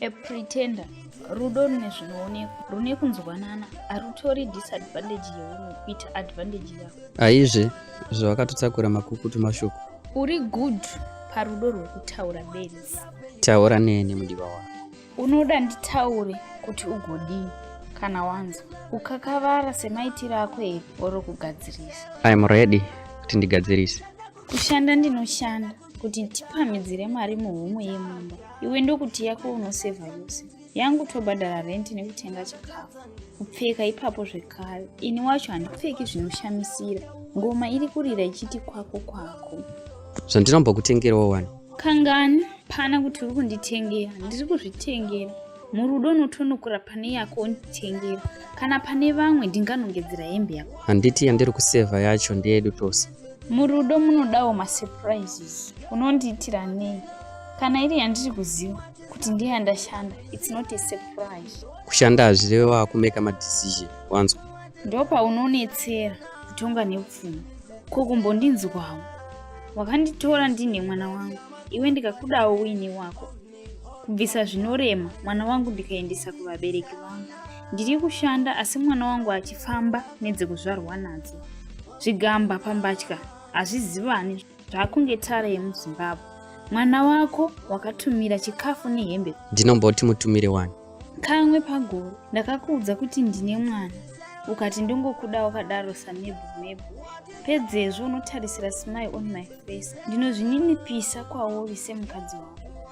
A pretender rudo rune zvinoonekwa rune kunzwanana harutori disadvantage yeumwe kuita advantage yavo aizve zvavakatotakura makukutu mashoko uri good parudo rwekutaura benzi taura neni mudiwa wako unoda nditaure kuti ugodii kana wanzwa ukakavara semaitiro ako here oro kugadzirisa iam ready kuti ndigadzirise kushanda ndinoshanda kuti tipamhidzire mari muhomwe yemumba iwe ndokuti yako unosevha yose yangu tobhadhara renti nekutenga chikafu kupfeka ipapo zvekare ini wacho handipfeki zvinoshamisira ngoma iri kurira ichiti kwako kwako zvandinomba kutengerawo wani kangani pana kuti uri kunditengera ndiri kuzvitengera murudo unotonokura pane yako unditengera kana pane vamwe ndinganongedzera hembe yako handiti yandiri kusevha yacho ndeyedu tose murudo munodawo masurprises unondiitira nei kana iri yandiri kuziva kuti ndeyandashanda its not a surprise kushanda hazvireve wakumeka madecision wanzwa ndo paunonetsera kutonga nepfuma ko kumbondinzwawo wakanditora ndine mwana wangu iwe ndikakudawo uine wako kubvisa zvinorema mwana wangu ndikaendesa kuvabereki vangu ndiri kushanda asi mwana wangu achifamba nedzekuzvarwa nadzo zvigamba pambatya hazvizivani zvakunge tara yemuzimbabwe mwana wako wakatumira chikafu nehembe ndinomboti mutumire wani kamwe pagore ndakakuudza kuti ndine mwana ukati ndongokuda wakadaro samebhu mebhu pedzezvo unotarisira smile on my face ndinozvininipisa kwauri semukadzi wako